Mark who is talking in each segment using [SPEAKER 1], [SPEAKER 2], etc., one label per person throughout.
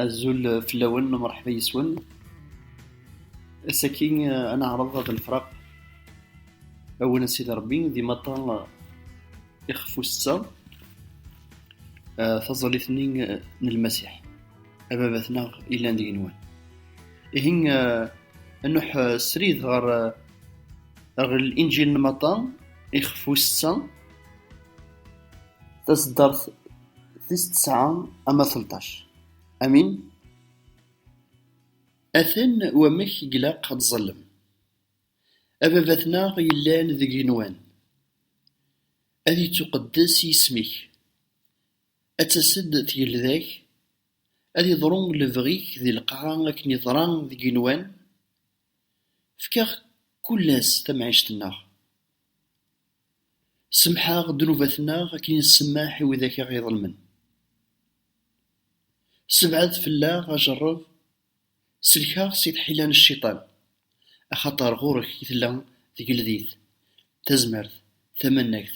[SPEAKER 1] Azul fell-awen, mṛeḥba yes-wen. Ass-agi ad neɛreḍ ad nefreq awen a Sidi Ṛebbi d imaṭa ixef ussetta taẓallit-nni n Lmasiḥ, Ababat-nneɣ yellan d igenwan. Ihi ad nṛuḥ srid ɣer Linǧil n Maṭa ixef ussetta. Taseddart tis tesɛa ama telṭac, amin? Aten wamek i ilaq ad ẓẓallen Ababat-nneɣ yellan deg igenwan, ad yettuqeddes yisem-ik, ad tas-d tgelda-k, ad yeḍru lebɣi-k di lqaɛa akken yeḍra deg igenwan, fek-aɣ kullas tamɛict-nneɣ. Semḥeɣ ddnubat-nneɣ akken i nsemmeḥ i widak i ɣ-iḍelmen. Sebɛed fell-aɣ ajerreb, sellek-aɣ si tḥila n cciṭan, axaṭer ɣur-k i tella tgeldit, tazmert, tamannagt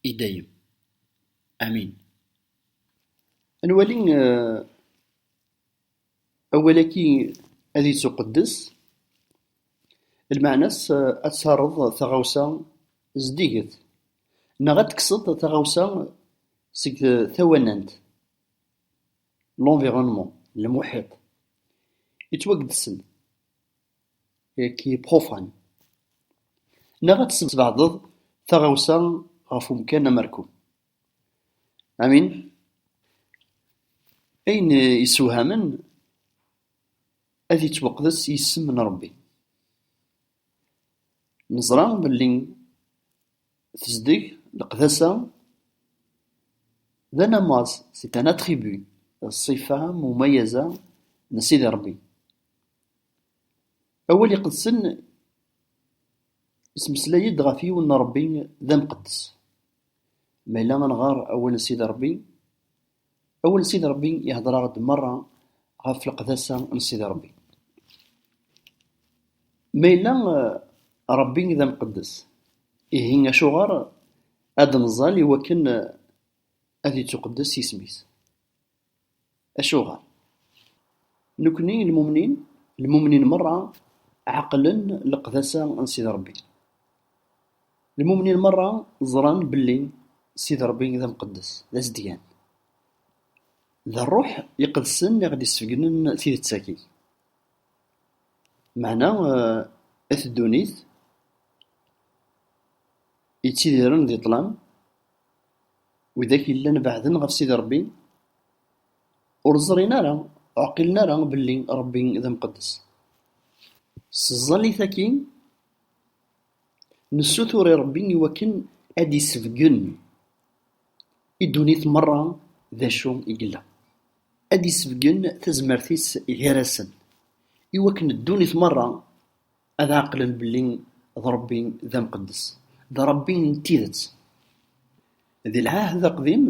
[SPEAKER 1] i dayem. Amin. Ad nwali. Awal-agi ad yettuqeddes, lmeɛna-s ad terreḍ taɣawsa zeddiget, neɣ ad tekkseḍ taɣawsa seg tawanant, l'environnement, le muḥiṭ, yettwageddsen, qui est profane, neɣ ad tesbeɛdeḍ taɣawsa ɣef umkan amerku. Ayen yessewhamen, ad yettwaqdes yisem n Ṛebbi. Neẓra belli tezdeg, leqdasa, d anamaz, c'est un attribut, d ṣṣifa mumayeza n Sidi Ṛebbi. Awal iqedsen ismeslay-d ɣef yiwen n Ṛebbi d amqeddes. Ma yella ad nɣer awal n Sidi Ṛebbi, awal n Sidi Ṛebbi ihder-aɣ-d meṛṛa ɣef leqdasa n Sidi Ṛebbi. Ma yella Ṛebbi d amqeddes, ihi acuɣer ad nẓal iwakken ad ittuqeddes yisem-is? Acuɣer? Nekni lmumnin, lmumnin merra ɛeqlen leqdasa n Sidi Ṛebbi. Lmumnin merra ẓran belli Sidi Ṛebbi d amqeddes, d azedgan. D Ṛṛuḥ iqedsen i ɣ-d-isbegnen tidet-agi. Meɛna at ddunit yettidiren di ṭṭlam. Widak yellan beɛden ɣef Sidi Rebbi, ur ẓrin ara, ur ɛqilen ara belli Rebbi d amqeddes. S tẓallit-agi, nessutur i Rebbi i wakken ad d-isebgen i ddunit merra d acu i yella, ad d-isebgen tazmert-is gar-asen, i wakken ddunit merra ad ɛeqlen belli d Ṛebbi d amqeddes, d Ṛebbi n tidet. Di Lɛahed Aqdim,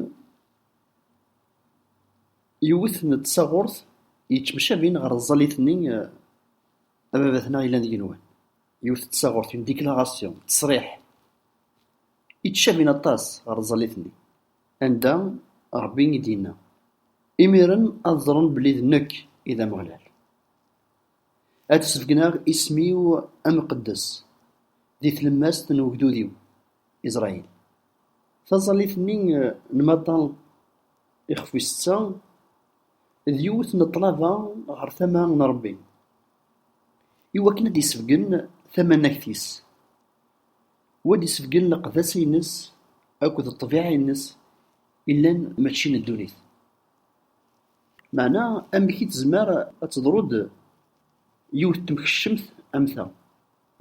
[SPEAKER 1] yiwet n tsaɣurt yettemcabin ɣer tẓallit-nni Ababat-nneɣ yellan d igenwan. Yiwet n tsaɣurt, une déclaration, ttesriḥ, yettcabin aṭas ɣer tẓallit-nni, anda Ṛebbi i d-yenna, Imiren ad ẓren belli d nekk i d Ameɣlal. Ad sbeggneɣ isem-iw amqeddes di tlemmast n ugdud-iw Israyil. Taẓallit-nni n Mata ixef wis setta, d yiwet n ṭṭlaba ɣer tama n Rebbi, i wakken ad d-isebgen tamanagt-is, u ad d-isebgen leqdasa-ines akked ṭṭbiɛa-ines yellan mačči n ddunit. Meɛna amek i tezmer ad teḍru-d yiwet temkeccemt am ta,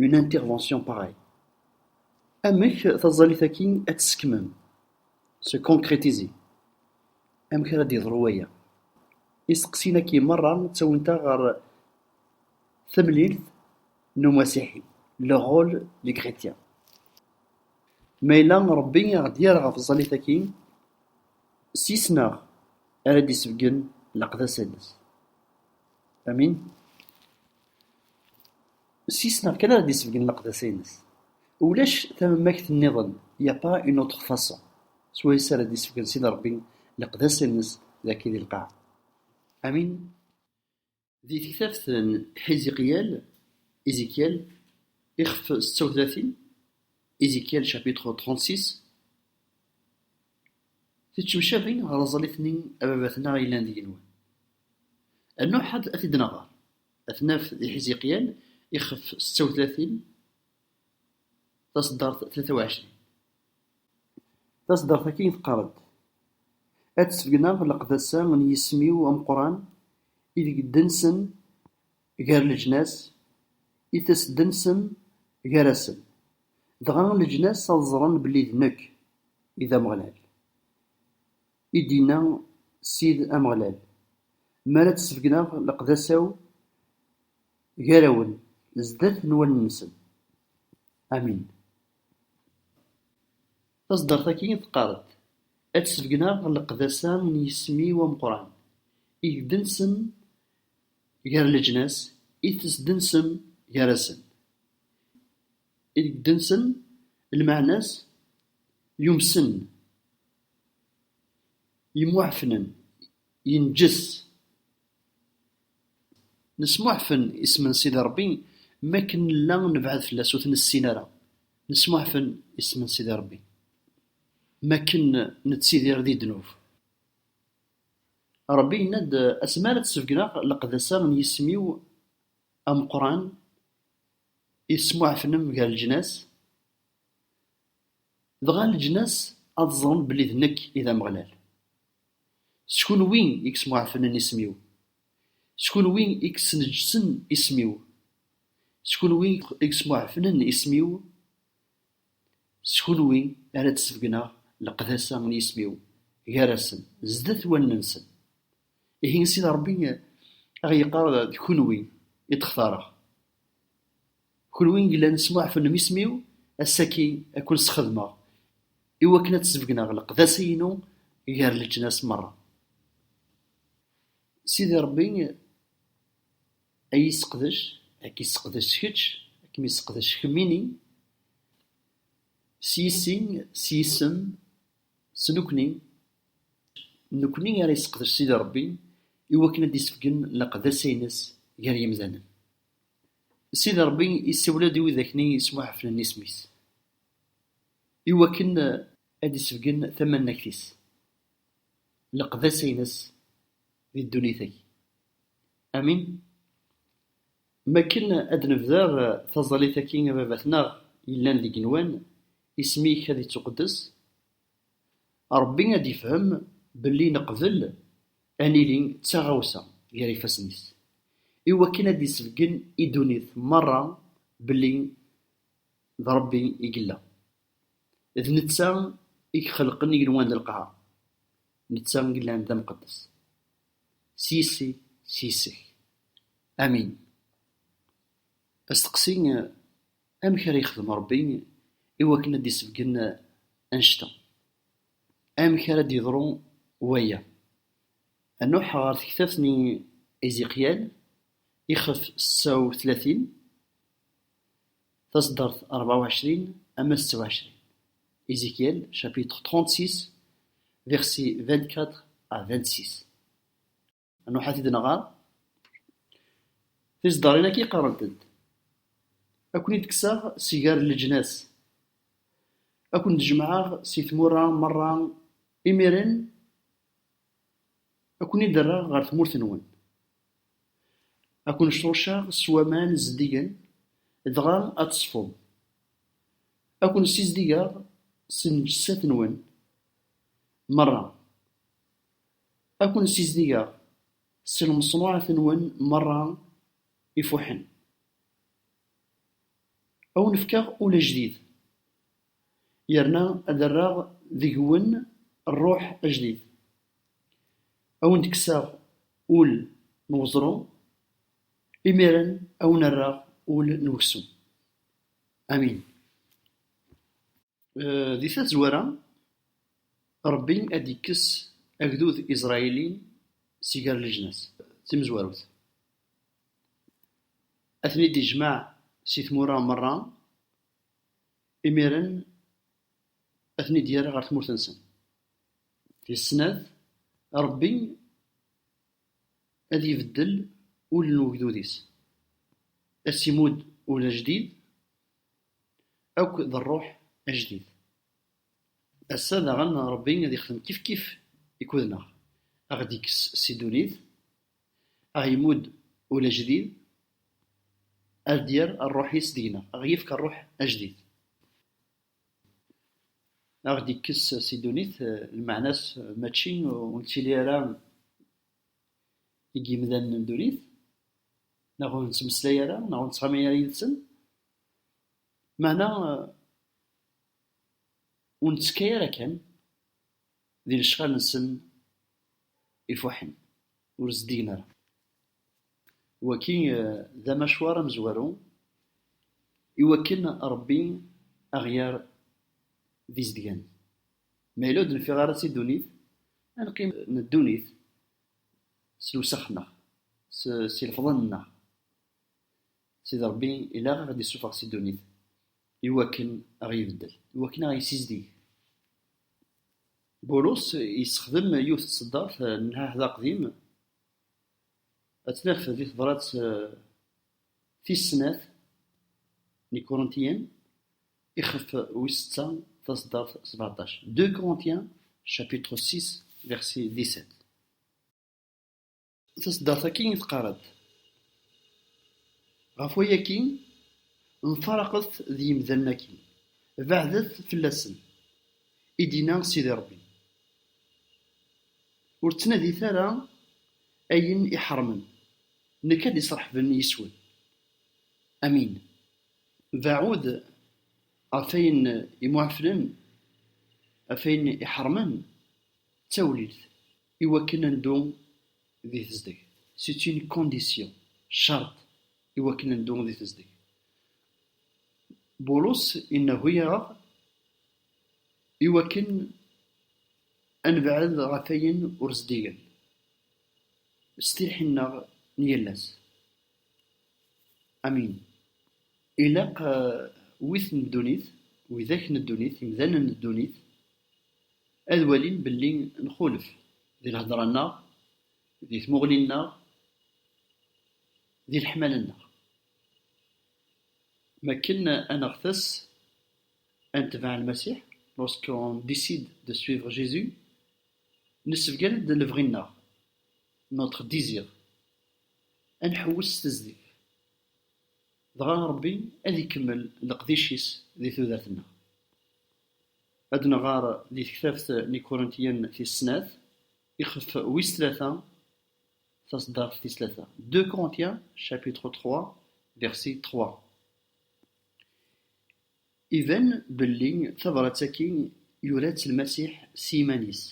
[SPEAKER 1] une intervention pareille? Amek taẓallit-agi ad tt-skemmem, se concrétiser? Amek ara d-yeḍru waya? Isteqsiyen-agi merra ttawint-aɣ ɣer tamlilt n umasiḥi, le rôle du chrétien. Ma yella Rebbi i aɣ-d-yerra ɣef tẓallit-agi, s yisem-a ara d-isebgen leqdasa-nnes. Ulac tamamakt niḍen, il n'y a pas une autre façon, s wayes ara d-isebgen Sidi Ṛebbi leqdasa-nnes dagi di lqaɛa. Amin. Di tektabt n Hiziqyal, Ezekiel, ixef setta u tlatin, Ezekiel chapitre 36, Tittemcabin ɣer aẓalit-nni a baba-tneɣ yellan deg-nwen. Rnuḥ ad t-id-nɣer, ad t-naf di Hiziqyal, ixef setta u tlatin, taṣeddart tlata u ɛecrin. Taṣeddart-agi teqqar-d: Ad d-sbeggneɣ leqdasa n yisem-iw ameqqran i deg d-tensen gar leǧnas, i as-d-tensen gar-asen, dɣa leǧnas ad ẓren belli d nekk i d Ameɣlal. I d-yenna Ssid Ameɣlal, Mi ara d-sbeggneɣ leqdasa-w gar-awen, zdat n wallen-nsen. Amin. Tazeddart-agi teqqar-d, Ad d-sbegneɣ leqdasa n yisem-iw ameqqran, i d-tessem gar leǧnas, i d-tessem gar-asen, i d-tessem lmeɛna-s yumsen, yemmuɛefnen. Yenǧes. Nesmuḥfen isem n Sidi Ṛebbi mi akken nella nebɛed fell-as ur t-nessin ara. Nesmuḥfen isem n Sidi Ṛebbi mi akken nettidir di ddnub. Ṛebbi yenna-d, Asmi ara d-sbegneɣ leqdasa n yisem-iw ameqqran i tesmuḥfnem gar leǧnas, dɣa leǧnas ad ẓren belli d nekk i d Ameɣlal. S kunwi i yesmuɛfenen isem-iw, s kunwi i yesneǧsen isem-iw, s kunwi i yesmuɛfenen isem-iw, s kunwi ara d-sbegneɣ leqdasa n yisem-iw gar-asen, zdat wallen-nsen. Ihi Sidi Ṛebbi a ɣ-yeqqar, D kunwi i d-xtareɣ. Kunwi i yellan tesmuɛfenem isem-iw, ass-agi ad ken-sxedmeɣ, i wakken ad sbegneɣ leqdasa-inu gar leǧnas merra. Sidi Rebbi ad iyi-yesseqdec, ad k-yesseqdec kečč, ad kem-yesseqdec kemmini, s yissi, s yisem, S nekkni, d nekkni ara yesseqdec Sidi Ṛebbi i wakken ad d-isefgen leqdasa-ines gar yimdanen. Sidi Ṛebbi isawel-d i widak-nni yesmuḥeflen isem-is i wakken ad d-isefgen tamannagt-is, leqdasa-ines di ddunit-agi. Amin. Mi akken ad d-nebder taẓallit-agi a baba-tneɣ yellan deg igenwan, isem-ik ad ittuqeddes, Rebbi ad ifhem belli neqbel ad nili d taɣawsa gar ifassen-is, i wakken ad d-isebgen i ddunit merra belli d Rebbi i yella, d netta i ixelqen igenwan d lqaɛa, netta i yellan d amqeddes s yis-i, s yis-k. Amin. Asteqsi, Amek ara yexdem Ṛebbi i wakken ad d-isebgen annect-a? Amek ara d-yeḍru waya? Anuḥ ɣer tektabt n Iziqyal, ixef setta u tlatin, taseddart ṛebɛa u ɛecrin ama setta u ɛecrin, Ezechiel chapitre trente-six, versets vingt-quatre à vingt-six. ad nruḥ ad t-id-nɣer tiseddarin-agi qarrent-d ad ken-id-kkseɣ si gar leǧnas ad ken-d-jemɛeɣ si tmura merra imiren ad ken-id-rreɣ ɣer tmurt-nwen ad ken-srucceɣ s waman zeddigen dɣa ad teṣfum ad ken-ssizdigeɣ s lneǧsat-nwen merra. Ad ken-ssizdigeɣ s lmeṣnuɛat-nwen merra ifuḥen, ad wen-fkeɣ ul ajdid, yerna ad rreɣ deg-wen rruḥ ajdid. Ad wen-d-kkseɣ ul n weẓru, imiren ad wen-rreɣ ul n weksum. Amin. Di tazwara, Ṛebbi ad d-ikkes agdud iẓrayili si gar leǧnas. D timezwarut. Ad ten-id-ijmeɛ si tmura meṛṛa, imiren ad ten-id-yerr ɣer tmurt-nsen. Tis snat, Ṛebbi ad ibeddel ul n ugdud-is, ad s-imudd ul ajdid. Akk d rruḥ ajdid. Ass-a daɣen Rebbi ad ixdem kifkif ikudneɣ, a ɣ-d-ikkes si ddunit, a ɣ-yemmud ul ajdid, a d-yerr rruḥ-is deg-neɣ, a ɣ-yefk rruḥ ajdid. A ɣ-d-ikkes si ddunit, lmeɛna-s mačči ur nettili ara. deg yimdanen n ddunit, neɣ ur nettmeslay ara, neɣ ur nettɣama ara yid-sen, meɛna ur nettekka ara kan di lecɣal-nsen ifuḥen, ur zeddigen ara. Wagi d amacwar amezwaru i wakken Rebbi a ɣ-yerr d izedgan. Ma yella ur d-nfiɣ ara si ddunit, ad neqqim n ddunit s lewsex-nneɣ, s ilefḍen-nneɣ. Sidi Ṛebbi ilaq a ɣ-id-issufeɣ si ddunit i wakken a ɣ-ibeddel, i wakken a ɣ-yessizdig. Bulus yessexdem yiwet n tseddart n Lɛehd Aqdim, ad tt-naf di tebṛat Tis snat n Ikuruntiyen, ixef wis setta, taseddart sbeɛṭac, Deux Corinthiens chapitre six verset dix-sept. Taseddart-agi teqqar-d, Ɣef wayagi, mfaraqet d yimdanen-agi, beɛdet fell-asen, i d-yenna Sidi Ṛebbi. Ur ttnadit ara ayen iḥeṛṛmen, Nekk ad d-isreḥben yis-wen. Amin. Beɛɛu-d ɣef ayen imuɛeflen, ɣef ayen iḥermen, d tawlilt, iwakken ad neddu di tezdeg. C'est une condition, ccerṭ, iwakken ad neddu di tezdeg. Bulus inehhu-aɣ iwakken ad nebɛed ɣef wayen ur zdigen. s tilḥin-nneɣ n yal ass. Amin. Ilaq wid n ddunit, widak n ddunit, imdanen n ddunit, ad walin belli nxulef di lhedra-nneɣ, di tmuɣli-nneɣ, di leḥmala-nneɣ. M akken ad neɣtes ad netbeɛ Lmasiḥ, lorsqu'on décide de suivre Jésus, Nessebgan-d lebɣi-nneɣ, notre désir, ad nḥewwes s tezdeg, dɣa Ṛebbi ad ikemmel leqdic-is di tudert-nneɣ. Ad nɣer di tektabt n Ikurintiyen tis snat, ixef wis tlata, taṣeddart tis tlata, deux Corinthiens chapitre trois verset trois. Iban belli tabrat-agi yura-tt Lmasiḥ s yiman-is,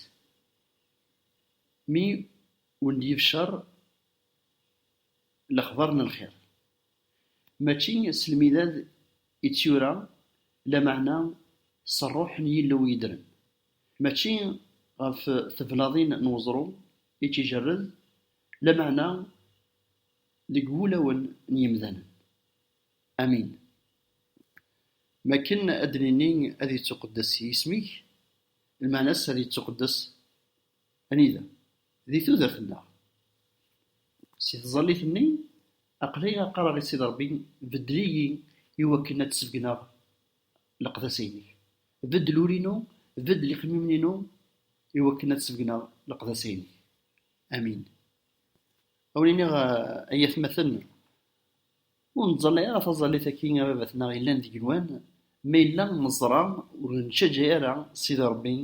[SPEAKER 1] mi wen-d-yebcer lexbar n lxir. Mačči s lmidad i tt-yura, lameɛna s Rruḥ n Yillu yeddren. Mačči ɣef teblaḍin n weẓru i tt-ijerred, lameɛna deg wulawen n yemdanen. Amin. Mi akken ad d-nini ad yettuqeddes yisem-ik, lmeɛna-s ad yettuqeddes anida? Di tudert-nneɣ. Si tẓallit-nni, aql-i qqareɣ i Sidi Ṛebbi, beddel-iyi i wakken ad d-sebgneɣ leqdasa-inek. Beddel ul-inu, beddel iqimimen-inu i wakken ad d-sebgneɣ leqdasa-inek. Amin. Ad wen-iniɣ ay atmaten, Ur nettẓalla ara taẓallit akk i ababat-nneɣ yellan d igenwan, ma yella neẓra ur neţţaǧa ara Sidi Ṛebbi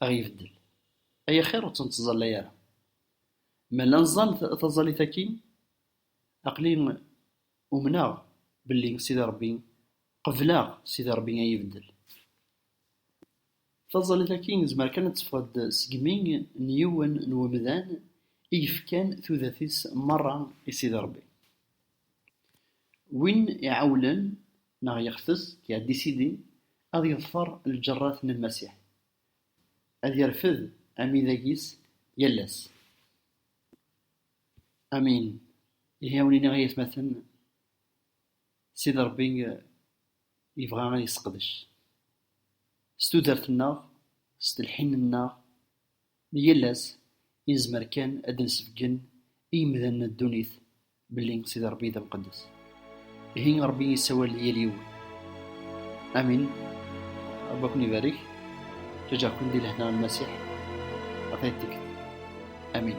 [SPEAKER 1] a ɣ-ibeddel, ay axir ur ţ-neţẓalla ara. Ma la neẓẓal taẓallit-agi, aql-i umneɣ belli Sidi Ṛebbi, qebleɣ Sidi Ṛebbi a yi-ibeddel. Taẓallit-agi nezmer kan ad teffeɣ-d segmi n yiwen n umdan i yefkan tudert-is merra i Sidi Rebbi. Win iɛewwlen neɣ yextes iɛeddi Sidi ad yeḍfer lǧerrat n Lmasiḥ, ad yerfed amidag-is yal ass. Amin. Ihi a wen-iniɣ ay atmaten, Sidi Ṛebbi yebɣa ad yesseqdec s tudert-nneɣ, s telḥin-nneɣ n yal ass, i nezmer kan ad d-nesbeggen i yemdanen n ddunit belli Sidi Ṛebbi d amqeddes. Ihi Ṛebbi yessawal i yal yiwen. Amin. Ṛebbi ad ken-ibarek. Ǧǧaǧǧaɣ-ken di lehna n Lmasiḥ ɣer tayet tikkelt. Amin.